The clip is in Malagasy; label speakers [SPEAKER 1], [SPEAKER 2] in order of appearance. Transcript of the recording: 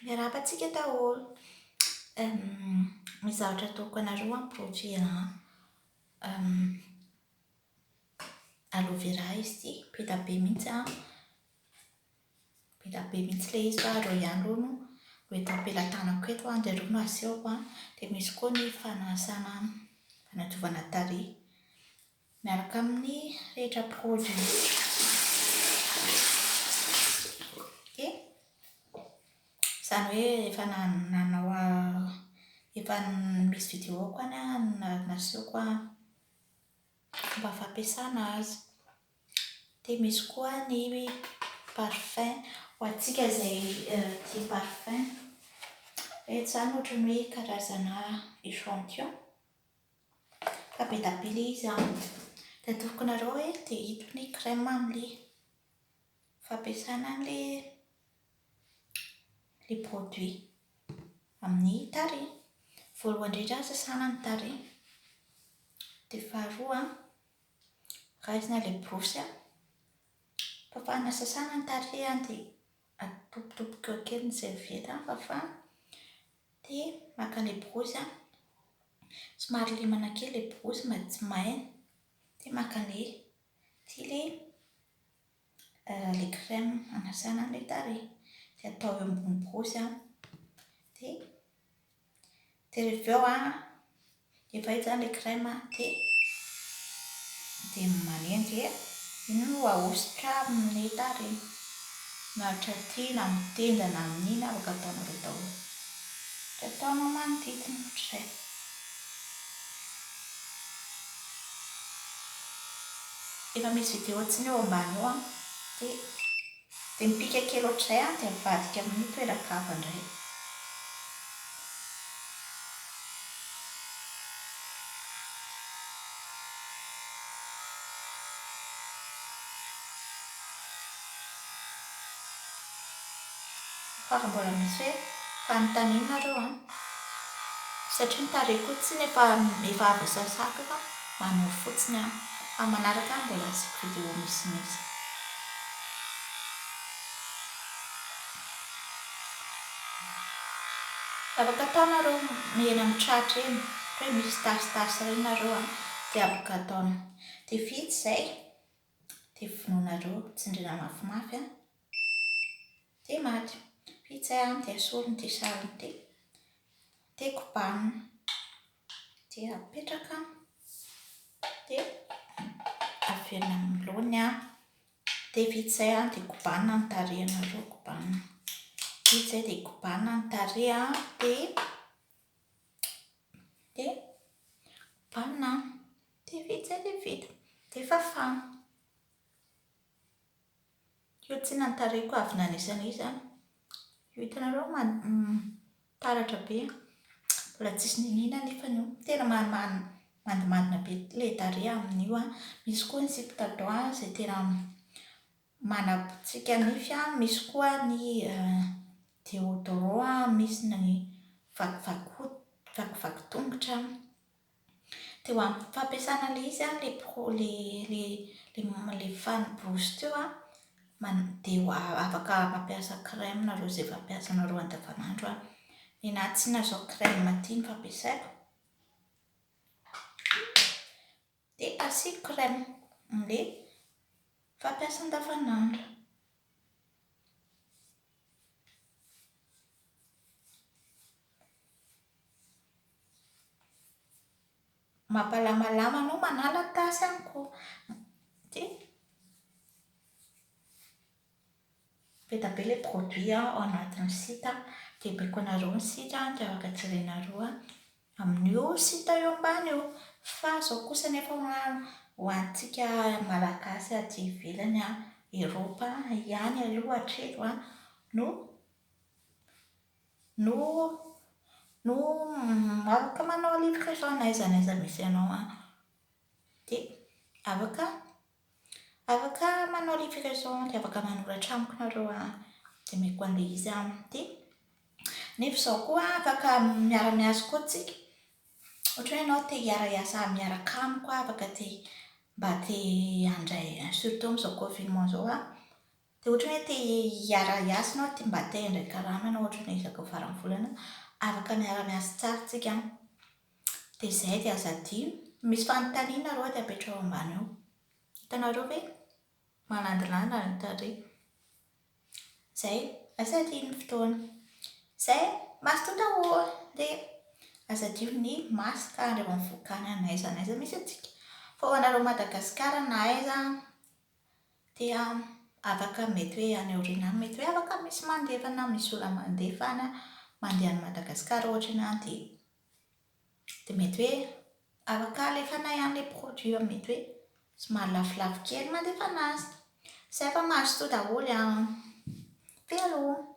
[SPEAKER 1] Miarahaba antsika daholo. Misy zavatra ataoko anareo an, produit an. Aloe vera izy ity, be dia be mihitsy an. Be dia be mihitsy ilay izy fa ireo ihany ireo no ho eto am-pelatanako eto an, dia ireo no asehoko an. Dia misy koa ny fanasana, fanadiovana tarehy. Miaraka amin'ny rehetra prod rehetra ok zany hoe efa nanao efa misy vidéo ko any nasehoko a fomba fampiasana azy dia misy koa ny parfum ho antsika izay tia parfum eto izany ohatran'ny hoe karazana echantillon Ka be da be le izy an! De atoroako anareo hoe dia ito ny crème amle fampiasana anle le produit amin'ny tarehy. Voalohany indrindra sasana ny tarehy, de faharoa raisina le borosy, fafana sasana ny tarehy dia Atopitopitoha kely ny serviette hafa fa dia maka ilay borosy an, somary lemana kely ilay borosy mba tsy may, dia maka an'ilay ity ilay ilay crème anasana an'ilay tarehy dia atao eo ambony borosy an dia. Dia rehefa avy eo an, efa hita izany ilay crème an, dia dia manendy hoe iny no ahosotra amin'ny tarehy, na hatraty na amin'ny tenda na amin'ny ina, afaka ataonareo daholo. Dia ataonao manodidina ohatr'izay. Efa misy vidéo tsy ny eo ambany eo an, dia. Dia mipika kely ohatr'izay aho dia avadika amin'io toeran-kava indray. Fa raha mbola misy hoe fanontaniana nareo an! satria ny tarehy koa tsy ny efa avy sasako fa manao fotsiny aho fa manaraka aho mbola asiako vidéo misimisy. Afaka atao nareo eny amin'ny tratra eny ohatra hoe misy tasitasy ireny nareo an! dia aboka atao dia vita izay dia vonoinareo tsindriana mafimafy an! Ty maty. Pizza an de asoriny ty sarony ty. De kobanina. De apetraka. De averina amin'ny laony an. De vita izay an de kobanina ny tarehinareo kobanina. Vita izay de kobanina ny tarehy an de de kobanina an. De vita izay de vita. De fafana. Io tsy nantarihiko avy nanisy an'io izany. Io hitanareo taratra be an! Mbola tsisy niniana anefa io. Tena mandimandina be ilay tarehy amin'io an! Misy koa ny sipa tatouage izay tena manabotsika nify an! Misy koa ny déodorant an! Misy ny vakivaky hoho, vakivaky tongotra an! Dia ho amin'ny fampiasana ilay izy an, ilay pro, ilay, ilay, ilay fanibosy teo an, man- dia ho a- afaka mampiasa crème nareo izay fampiasanareo andavanandro an. Ny anà tsy nazao crème aty ny fampiasaiko, dia asiako crème amin'ilay fampiasa andavanandro. Mampalamalama anao Manala tasy any ko ty be da be le produit ao anatin'ny site a, dia baiko anareo ny site a dia afaka jerenareo a. amin'io site io ambany io fa izao kosa anefa ho antsika malagasy aty ivelany an, Europe ihany aloha hatreto an, no no no afaka manao livraison n'aiza n'aiza misy anao an, dia afaka Afaka manao livraison dia afaka manoratra amiko nareo a, dia omeko anle izy a, dia nefa izao koa afaka miara miasa koa tsika, ohatra hoe enao te hiara hiasa miaraka amiko a, afaka te mba te handray surtout amin'izao confinement izao a, dia ohatra hoe te hiara hiasa enao te mba te handray karama enao ohatra hoe isaka faran'ny volana, afaka miara miasa tsara tsika a. Dia izay dia aza adino. Misy fanontaniana roa dia apetraho ambany ao. Hitanareo ve? Malandilandy ny tarehy. Izay, aza adino ny fotoana. Izay, maty tonta ô! Dia aza adino ny maty ka andry eo amin'ny vohikany an'aiza n'aiza misy antsika. Fa ho anareo Madagasikara na aiza dia afaka mety hoe any aoriana any mety hoe afaka misy mandefa na misy olona mandefa any mandeha any Madagascar ohatra ianao dia dia mety hoe afaka alefanay any ilay produit fa mety hoe somary lafolafo kely mandefana azy. Izay fa mazotoa daholo an! Very ô!